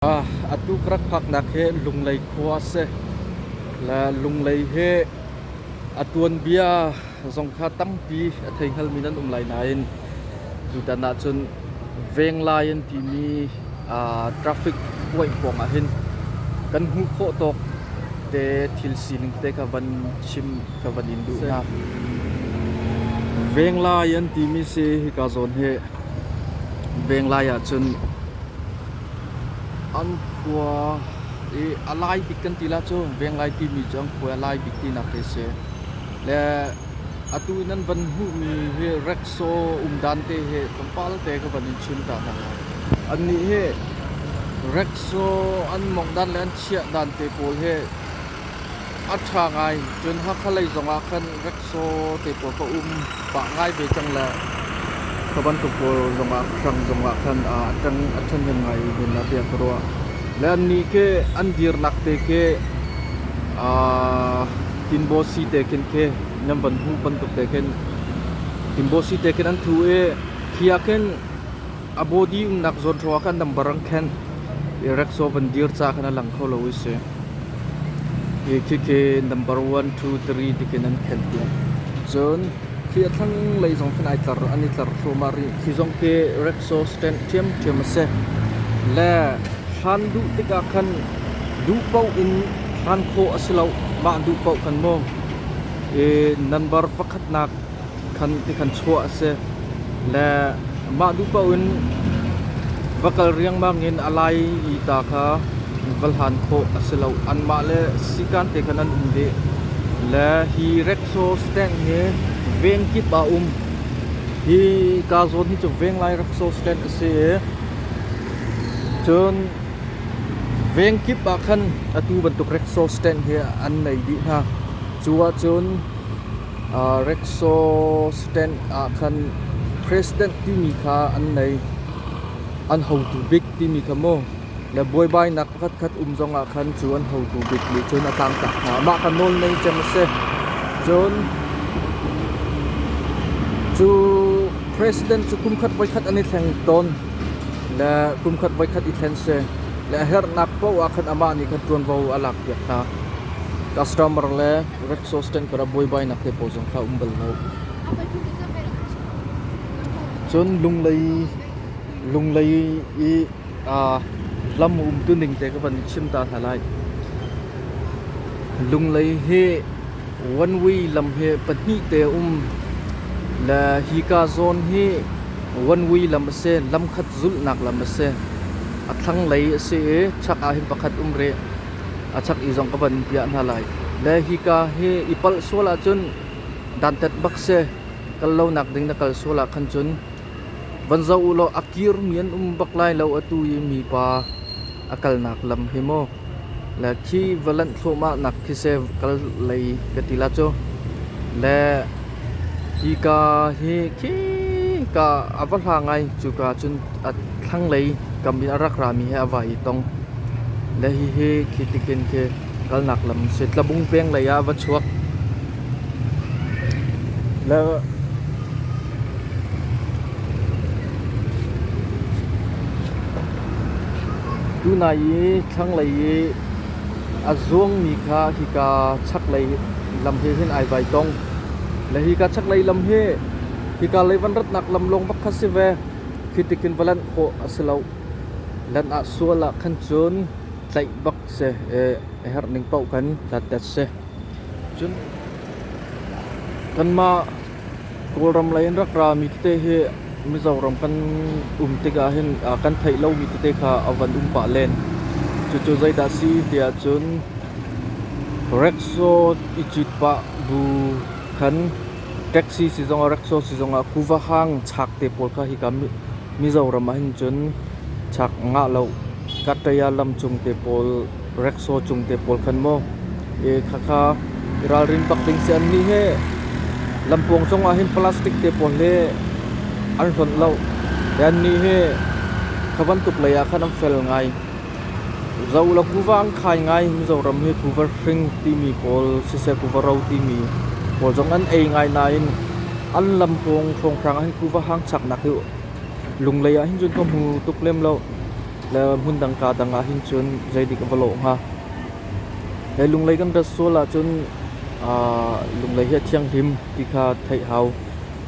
A tuk rak phaknak hi Lunglei khua a si. Le Lunglei hi a tuanbia zong kha tampi a thei hngalmi nan um lai nain tutan ahcun Venglai an timi traffic puaih pawng ah hin kan hmuh khawh tawk te thil sining te ka van chim ka van in duh hna. Venglai an timi si hika zawn hi Venglai ahcun An khua i a lai bik kan ti lah cu Venglai timi cu an khua i a lai bik tinak hi a si. Le atu i nan van hmuhmi hi Rexo um dan te hi tlawmpal te ka van in chim ta hna lai. Annih hi Rexo an mawngh dan le an chiah dan te pawl hi a ṭha ngai. Cun Hakha lei zongah khan Rexaw te pawl ka um pah ngai ve cang le ka bantuk pawl zongah hrang zongah khan a ṭang a ṭhahnem ngai men ah tiah ka ruah le annih ke an dirnak te ke tinbosi te khin ke nan van hmuh bantuk te khin tinbosi te khin an thu i khia khin a body umnak zawn hrawah khan nambar an khenh i Rexaw van dir ca khan a lang kho lo is si Hi khikhi number one, two, three ti khin an khen piak. Cun khi a thlanglei zong khin ai tlar, an i tlar thluahmah rih. Hi zong khi Rexo stand ṭhiamṭhiam a si. Le hlan duh tikah khan duh paoh in hlan khawh a si lo. Mah duh paoh khan mu. I number pakhatnak khan ti khan chuah a si. Le mah duh paoh in va kal riangmang in a lai i ta kha va hlan khawh a si lo. Anmah le sikan te khan an um dih. Le hi Rexo Stand hi veng kip ah um. Hi kaa zawn hi cu Venglai Rexo Stand a si i cun veng kip ah khan atu bantuk Rexo Stand hi an nei dih hna. Cu ahcun Rexaw stand ah khan President timi kha an nei. An hotu bik timi kha mu. Le buaibainak pakhatkhat um zongah khan cu an hotu bik nih cun a tlangtak hna. Mah kha nawl ngei cem a si. Cun cu President cu kumkhat voikhat an i thleng tawn. Le kumkhat voikhat i thlen si. Le a herhnak paoh ah khan amah nih khan ṭuanvo a lakpiak hna. Customer le Grepsosten kar ah buaibainak te pawl zong kha um bal lo. Cun Lunglei Lunglei i uh, lam umtu ning te ka van chim ta hna lai. Lunglei hi one way lam hi pahnih te um le hi ka zone hi one way lam a si lam khat zulhnak lam a si a thlanglei a si i chak ah hin pakhat um re a chak i zong ka van piah hna lai. Le hika hi i palh sual ahcun dantat bak si kal lonak ding na kal sual ah khan cun van zoh u law a kirmi an um bak lai lo atu i mipa a kalnak lam hi maw le khi va lanh thluahmah nak khi se kal lei ka ti la cu le hika hi khi ka a va hla ngai cuka cun A thlanglei kam in a rak rami he a vai i tong. Le hihi khi tikin khi kalnak lam a si. Tlabung peng lei ah va chuak. Le tunai i thlanglei i a zuangmi kha hika chaklei lam he hin ai vai tong. Le hika chaklei lam hi hika leivanratnak lam lawng bak kha si ve. khi tikin va lanh khawh a si loh. Lan ah sual ah khan cun tlaih bak si a herh ning paoh kan hlatet si. Cun kanmah Kawlram lei in rak rami tete hi Mizoram kan um tikah hin aa kan theih lomi tete kha a van um pah len. Cucu zeidah si tiah cun Rexo i cit pah bu khan Taxi sizong ah rickshaw sizong ah kuva hang chak te pawl kha hika Mizoram ah hin cun chak ngah lo Kataya lam cung te pawl rickshaw cung te pawl khan maw khakha i ralrin bak ding si annih hi lampuang cung ah hin plastic te pawl hi an hlonh lo ti annih hi kha bantuk lei ah khan an fel ngai. Zolo kuva an khai ngai. Mizoram hi kuva hring timi pawl, siseh kuva ro timi pawl zong an ei ngai nain an lam pawng hrawnghrang ah hin kuva hang chaknak hi Lunglei ah hin cun ka hmu tuk lem lo. Le hmun dangka dang ah hin cun zeidik a va lawh hnga. He Lunglei kan rat sual ahcun Lunglei hi a thianghlim ti kha theih hau.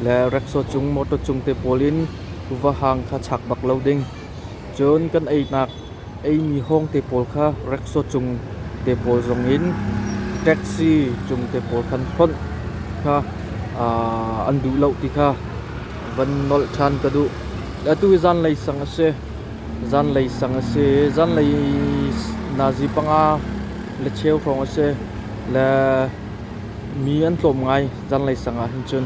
Le Rexaw cung, Motor cung te pawl in kuva hang kha chak bak lo ding. Cun kan einak eimi hawngte pawl kha reksaw cung te pawl zongin taxi cung te pawl kan hlonh kha an duh lo ti kha van nolh ṭhan ka duh. Atu hi zanlei sang a si. Zanlei sang a si. Zanlei nazi panga le cheu hrawng a si. Le mi an tlawm ngai zanlei sang ah hin cun.